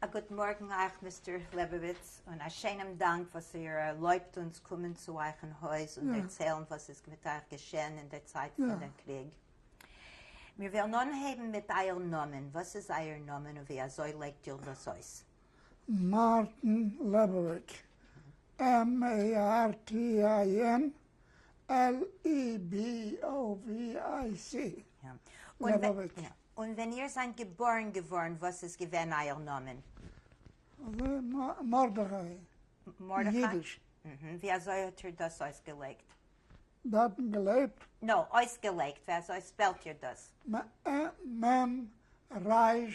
א גוט מארגן אייך מיסטער לעבאוויטץ, און א שיינעם דאנק וואס איר ערלויבט אונז קומען צו אייך אין הויז און דערציילן וואס איז מיט אייך געשען אין דער צייט פון דער קריג. מיר וועלן אנהייבן מיט אייער נאמען, וואס איז אייער נאמען און ווי אזוי לייגט איר דאס אויס? מארטין לעבאוויטש, M-A-R-T-I-N, LEBOVIC, לעבאוויטש. און ווען איר זענט געבארן געווארן וואס איז געווען אייער נאמען? מרדכי, אידיש. ווי אזוי האט איר דאס אויסגעלייגט? דארטן געלעבט? נאו, אויסגעלייגט, ווי אזוי ספעלט איר דאס? מ' ר'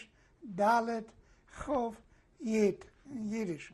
ד' כ' י', אידיש.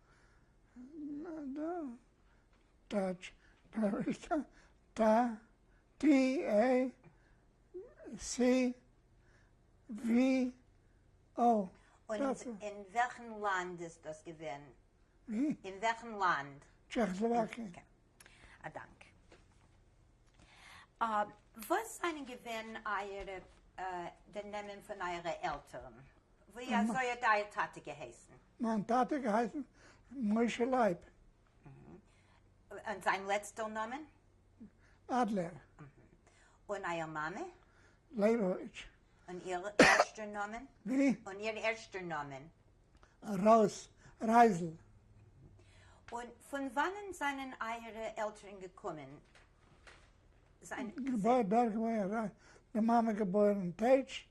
קאנאדא, דייטש אמעריקא, ט ט ע ס ווי אויך. און אין וועלכן לאנד איז דאס געווען? ווי? אין וועלכן לאנד? טשעכסלאוואקיי. א דאנק. וואס זענען געווען אייערע, די נעמען פון אייערע עלטערן? ווי אזוי האט אייער טאטע געהייסן? מיין טאטע האט געהייסן משה לייב. און זיין לעצטער נאמען? אדלער. און אייער מאמע? לייבאוויטש. און איר ערשטער נאמען? ווי? און איר ערשטער נאמען? רוס, רייזל. און פון וואנען זענען אייערע עלטערן געקומען? געבוירן אין בערגעוועי, די מאמע געבוירן אין טעטש,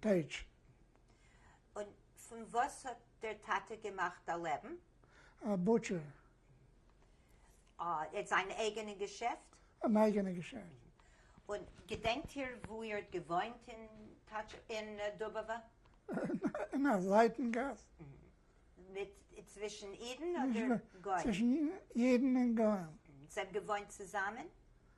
טייטש. און פון וואס האט דער טאטע געמאכט א לעבן? א בוטשער. אה, זיין אייגענע געשעפט? אן אייגענע געשעפט. און געדענקט איר וואו איר האט געוואוינט אין טאטש אין דובעווע? אין א זייטן גאס. מיט צווישן אידן אדער גוים? צווישן אידן און גוים. זיי האבן געוואוינט צוזאמען?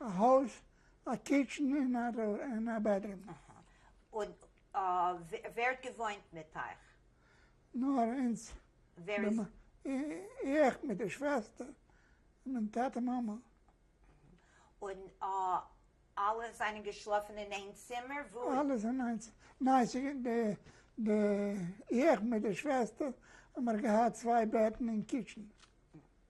א הויז, א קיטשען און א בעדרום. און ווער האט געוואוינט מיט אייך? נאר אונז. ווער איז? איך מיט די שוועסטער, מיין טאטע מאמע. און אלע זענען געשלאפן אין איין צימער? וואו? אלעס אין איין צימער, ניין איך מיט די שוועסטער האמער געהאט צוויי בעטן אין קיטשען.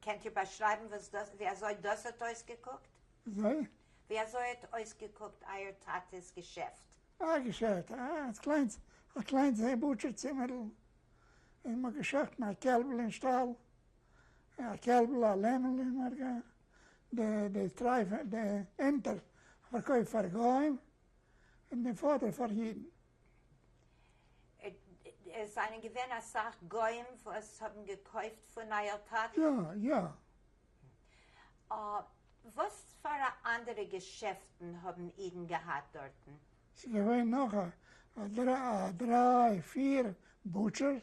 קענט איר באשרייבן וואס דאס ווי אזוי דאס האט אויסגעקוקט? וויי? ווי אזוי האט אויסגעקוקט אייער טאטע'ס געשעפט? א געשעפט? א קליינס א קליינס בוטשער צימערל, און מען האט געשחט מיט א קעלבל אין שטאל, א קעלבל א לעמעל און מען האט גע די די טרייף די ענטער פארקויפט פאר גוים און די פאדער פאר אידן. עס זענען געווען אסאך גוים וואס האבן געקויפט פון אייער טאטע? יא, יא. וואס פאר א אנדערע געשעפטן האבן אידן געהאט דארטן? ס'איז געווען נאך א דריי פיר בוטשערס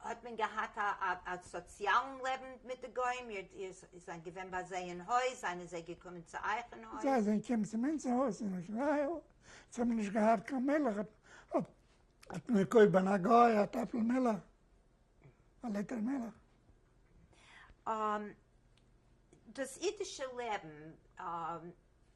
האט מען געהאט א סאציאלן לעבן מיט די גוים? איר זענט געווען ביי זיי אין הויז? זענען זיי געקומען צו אייך אין הויז? זיי זענען געקומען צו אונז אין הויז אין איזראעל, זיי האבן נישט געהאט קיין מילך, האט מען געקויפט ביי א גוי א טעפל מילך, א ליטער מילך. דאס אידישע לעבן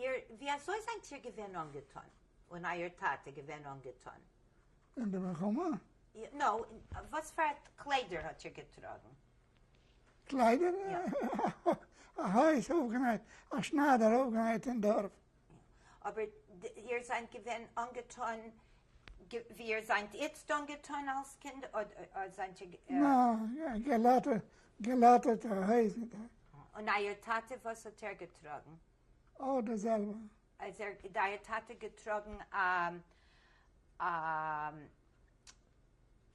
איר, װי אַזױ זײַנט איר געװען אָנגעטאָן? און אײַער טאַטע געװען אָנגעטאָן? אין דער מלחמה? נאָ, װאָס פֿאַר קלײדער האָט איר געטראָגן? קלײדער? אַ הױז אױפֿגענאַיט, אַ שנײַדער אױפֿגענאַיט אין דאָרף. אבער איר זענט געווען אנגעטון ווי איר זענט איצט אנגעטון אלס קינד אדער זענט איר. נאר געלאטערטע הויזן. און אייער טאטע וואס האט ער געטראגן? אויך די זעלבע. האט אייער טאטע געטראגן א.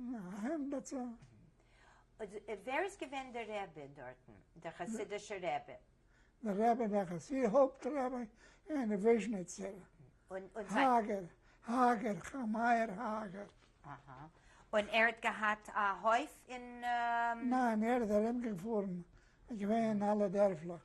אהן בעצם. ווער איז געווען דער רבי דארטן, דער חסידישער רבי? דער רבי דער חסידישער הויפט רבי אין וויזשניצער האגער, האגער, כ א מאיר האגער. אהא. און ער האט געהאט א הויף אין. ניין, ער איז ארומגעפארן, געווען אין אלע דערפלעך.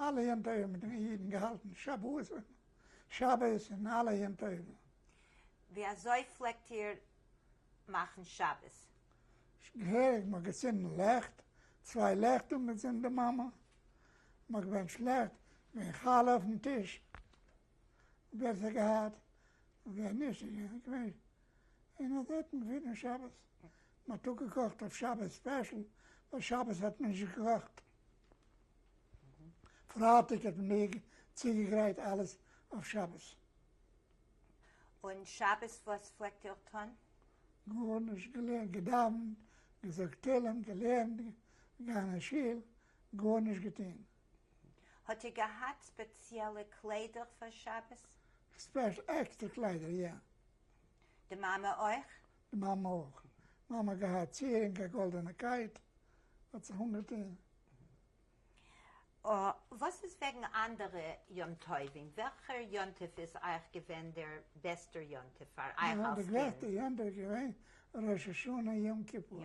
אלע יום טובים האבן די אידן געהאלטן שבועות און שבת און אלע יום טובים. ווי אזוי פלעגט איר מאכן שבת? געהעריג, מ'האט געצינדן לעכט, צוויי לעכט אנגעצינדן די מאמע, מ'האט געבענטשט לעכט, געווען חלה אויפן טיש, בעסער געהאט ווען נישט איז נישט געווען און אט האט מען פונעם שבת מ'האט אפגעקאכט אויף שבת ספעשל ווייל שבת האט מען נישט געקאכט פרייטאג האט מען מיר צוגעגרייט אלעס אויף שבת. און שבת וואס פלעגט איר טון? גארנישט, געלערנט, געדאווענט, געזאגט תהלים, געלערנט, געגאנגען אין שול, גארנישט געטון. האט איר געהאט ספעציעלע קליידער פאר שבת? ספעשל עקסטער קליידער יא. די מאמע אויך? די מאמע אויך. מאמע האט געהאט צו ערינג א גאלדענע קייט, האט זיך אנגעטון. וואס איז וועגן אנדערע יום טובים? וועלכער יום טוב איז אייך געווען דער בעסטער יום טוב פאר אייך אלס קינד? די גרעסטע יום טוב איז געווען ראש השנה יום כיפור.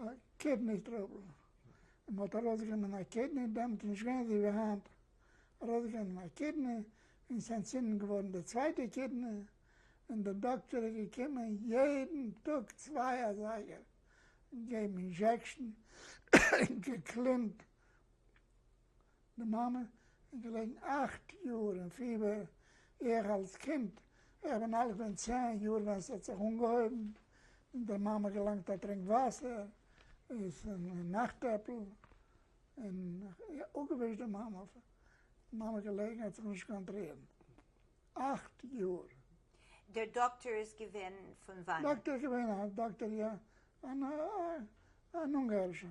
א קידני טראבל, און מען האט ארויסגענומען א קידני, דעמאלט איז נישט געווען אזוי ווי היינט, ארויסגענומען א קידני, און ס'איז אנטצינדן געווארן די צווייטע קידני, און דער דאקטער איז געקומען יעדן טאג צוויי אזייגער געבן אינזשעקשן, און געקלינט די מאמע איז געלעגן אכט יאר אין פיבער, איך אלס קינד, איך בין אלט געווען צען יאר ווען ס'האט זיך אנגעהויבן, און דער מאמע געלאנגט א טרינק וואסער, איז און נאכט עפל, און אפגעווישט די מאמע, אויף די מאמע געלעגן האט זיך נישט קאנטרירן, אכט יאר. דער דאקטער איז געווען פון וואנעט? דאקטער איז געווען א דאקטער יא, אן אונגארישער.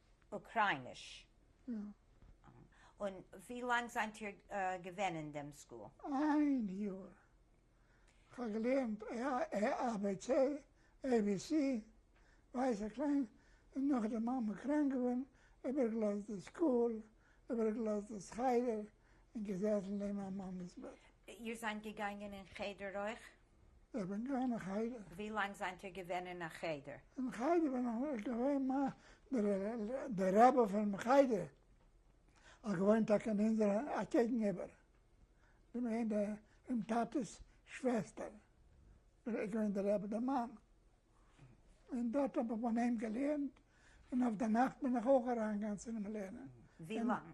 אוקרייניש? יא. און ווי לאנג זענט איר געווען אין דעם סקול? איין יאר. כ'האב געלערנט א ב צ, עי בי סי, ווייס איך קליין, און נאכדעם מאמע קראנק געווארן, איבערגעלאזט די סקול, איבערגעלאזט דאס חדר, און געזעסן נעבן מיין מאמע'ס בעט. איר זענט געגאנגען אין חדר אויך? איך בין געווען אין חדר. ווי לאנג זענט איר געווען אין א חדר? אין חדר בין איך נישט געווען, מע דער רבי פונעם חדר האט געוואוינט טאקע אין אונזער א קעגן איבער, געווען די פון טאטעס שוועסטער, ער איז געווען דער רבי דער מאן, און דארט האב איך ביי אים געלערנט, און אויף די נאכט בין איך אויך אריין געגאנצן אינעם לערנען. ווי לאנג?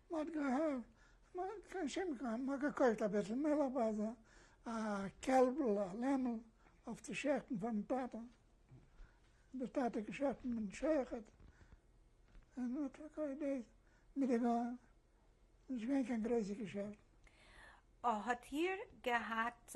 מ'האט געהאט, מ'האט קיין שום כח, מ'האט געקויפט אביסל מילך ביי זיי, א קעלבל, א לעמל, אויף צו שעכטן פארן טאטע, די טאטע האט געשעכטן מיטן שעכעט, און מ'האט פארקויפט דאס מיט די גוים, נישט געווען קיין גרויסע געשעפטן. האט איר געהאט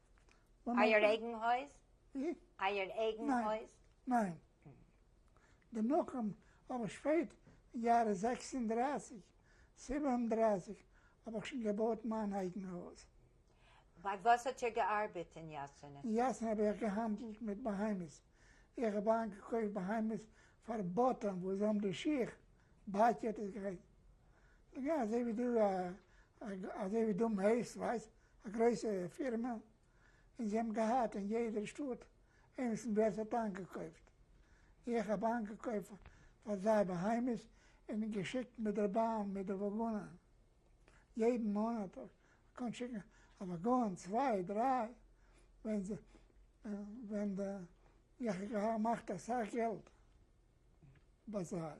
אייער אייגן הויז? ווי? אייער אייגן הויז? ניין. די מקום האב איך שפעט אין יארע זעקס און דרײַסיק, זיבן און דרײַסיק האב איך שוין געבויט מיין אייגן הויז. ביי וואס האט איר געארבעט אין יאסענע? אין יאסענע האב איך געהאנדלט מיט בהמות. איך האב איינגעקויפט בהמות פאר באטען וואס זיי האבן די שיך, באטשעט איז געווען. אזוי ווי דו אזוי ווי דו מעסט ווייסט א גרויסע פירמע און זיי האבן געהאט אין יעדער שטאט איינס און דארט האט איינגעקויפט איך האב איינגעקויפט פאר זיי בהמות און געשיקט מיט דער באן מיט די וואגאנען יעדן מאנאט קען שיקן א וואגאן צוויי דריי ווען זיי ווען די איך האב געמאכט אסאך געלט ביי זיי.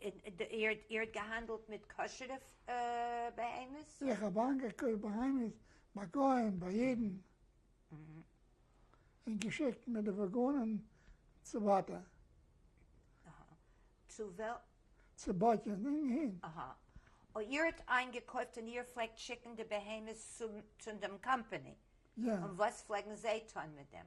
איר האט געהאנדלט מיט כשר'ע בהמות? איך האב איינגעקויפט בהמות ביי גוים, ביי אידן, און געשיקט מיט די וואגאנען צו באטע. צו ווער? צו באטע, ניין אהין. איר האט איינגעקויפט און איר פלעגט שיקן די בהמות צו דעם קאמפעני? יא. און וואס פלעגן זיי טון מיט דעם?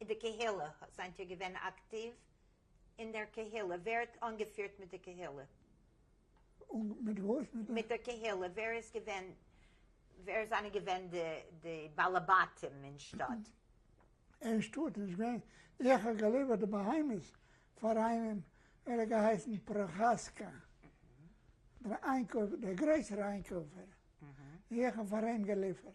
אין די קהילה, זענט איר געווען אקטיוו אין דער קהילה? ווער האט אנגעפירט מיט די קהילה? מיט וואס? מיט דער קהילה, ווער איז געווען, ווער זענען געווען די די בעלי בתים אין שטאט? אין שטאט איז געווען, איך האב געליווערט די בהמות פאר איינעם, ער האט געהייסן פראחאסקא, דער איינקויפער, דער גרויסער איינקויפער, איך האב פאר אים געליפערט.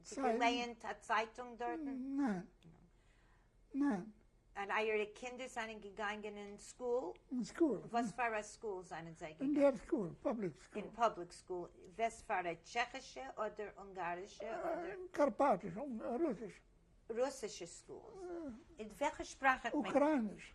האסט געלייענט א צייטונג דארטן? ניין. ניין. און אייערע קינדער זענען געגאנגען אין סקול? אין סקול. וואספארא סקול זענען זיי געגאנגען? אין דער סקול, פובליק סקול. אין פובליק סקול. וואספארא, טשעכישע אדער אונגארישע אדער? קארפאטישע, רוסישע. רוסישע סקולס. און וועלכע שפראך האט מען? אוקרייניש.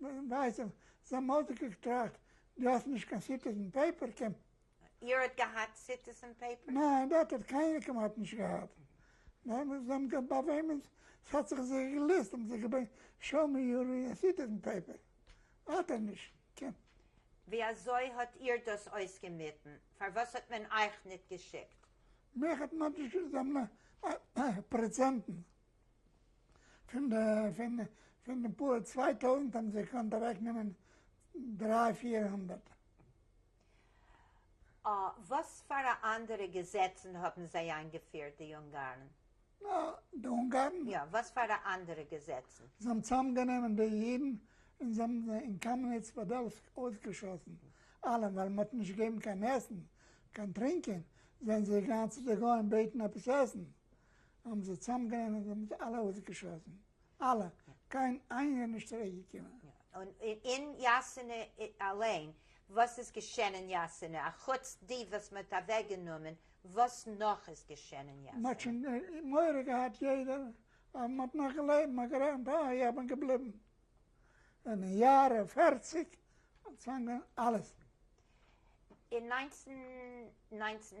ווייסע זאמאלדיגע געטראכט דו האסט נישט קיין סיטיזען פעיפער קען. איר האט געהאט סיטיזען פעיפער? ניין דארט האט קיינער כמעט נישט געהאט, זיי האבן געהאט ביי וועמען ס'האט זיך זיי געלוסט האבן זיי געבען שאו מי יור סיטיזען פעיפער האט ער נישט קען. ווי אזוי האט איר דאס אויסגעמיטן? פארוואס האט מען אייך ניט געשיקט? מיך האט מען נישט געשיקט זיי האבן פרעצענטן. פון די פאר צוויי טויזנט האבן זיי געקאנט אוועקנעמען דריי פיר הונדערט. אה, וואספארא אנדערע געזעצן האבן זיי איינגעפירט, די אונגארן? אה, די אונגארן? יא, וואספארא אנדערע געזעצן? זיי האבן צוזאמגענומען די אידן און זיי האבן זיי אין קאמעניץ פאדעלסק אויסגעשאסן אלעם, ווייל מען האט נישט געגעבן קיין עסן, קיין טרינקען, זענען זיי געגאנגען צו די גוים בעטן עפעס עסן. האבן זיי צוזאמגענומען און מיט אלע אויסגעשאסן, אלע, קיין איינער נישט צוריק געקומען. און אין יאסינע אליין, וואס איז געשען אין יאסינע, א חוץ די וואס מען האט אוועק גענומען, וואס נאך איז געשען אין יאסינע? מען האט שוין מורא געהאט יעדער, ווייל מען האט נאך געלעבט, מען האט גערעכנט אה איך בין געבליבן, און אין יארע פערציג האט צוזאמגענומען אלעס. אין נײַנצן נײַנצן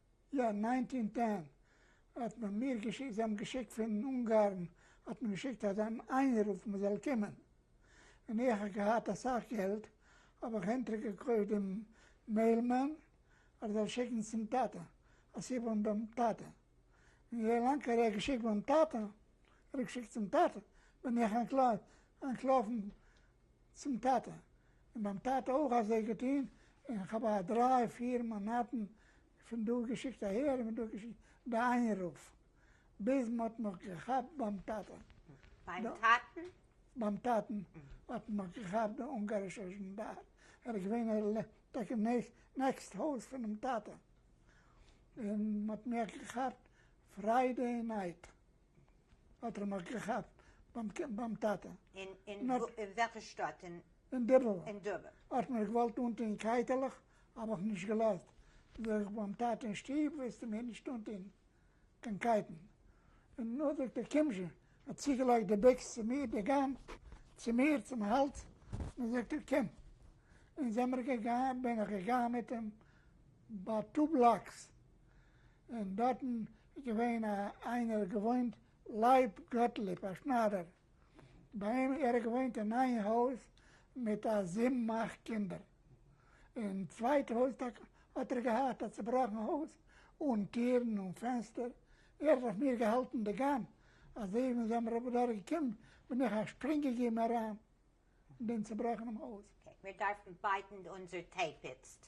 יא ניינטין טען האט מען מיר געשיקט, זיי האבן געשיקט פון אונגארן האט מען געשיקט אזא איינרוף מען זאל קומען, ווען איך האב געהאט אסאך געלט האב איך אונטער געקויפט דעם מעיל מען ער זאל שיקן צום טאטע א סיבה און דעם טאטע און ווי לאנג ער האט געשיקט ביים טאטע ער האט געשיקט צום טאטע בין איך אנטלויפן. צום טאטע, און ביים טאטע אויך אזוי געטון, און כ'האב א דריי פיר מאנאטן פון דא געשיקט אהער און פון דא געשיקט די איינרוף, ביז מ'האט מיך געכאפט ביים טאטע. ביים טאטן? ביים טאטן האט מיך געכאפט די אונגארישע זשאנדאר, ער איז געווען טאקע נעקסט הויז פונעם טאטע, און מ'האט מיך געכאפט פריידעי נייט. האט ער מיך געכאפט ביים טאטע. אין וועלכע שטאט? אין דובער. האט מיר געוואלט אנטון קייטעלעך, האב איך נישט געלאזט, זאג איך ביים טאטע אין שטוב וועסטו מיר נישט אנטון קיין קייטן. נו זאגט ער קום שוין, האט צוגעלייגט די ביקס צו מיר, די גאן צו מיר צום האלז, און זאגט ער קום. און זעמער געגאנגען, בין איך געגאנגען מיט אים ביי טו בלאקס, און דארטן איז געווען א איינער געוואוינט לייב גאטליב א שניידער ביי אים ער האט געוואוינט אין איין הויז מיט א זיבן אכט קינדער אין צווייטע הויז טאקע האט ער געהאט א צובראכן הויז אן טירן אן פענסטער ער האט אויף מיר געהאלטן די גאן אזוי ווי ווען זיי האבן אדורך געקומען בין איך א שפרינג געגעבן אריין אין דעם צובראכענעם הויז. אקעי מיר דארפן בייטן אונזער טעיפ איצט.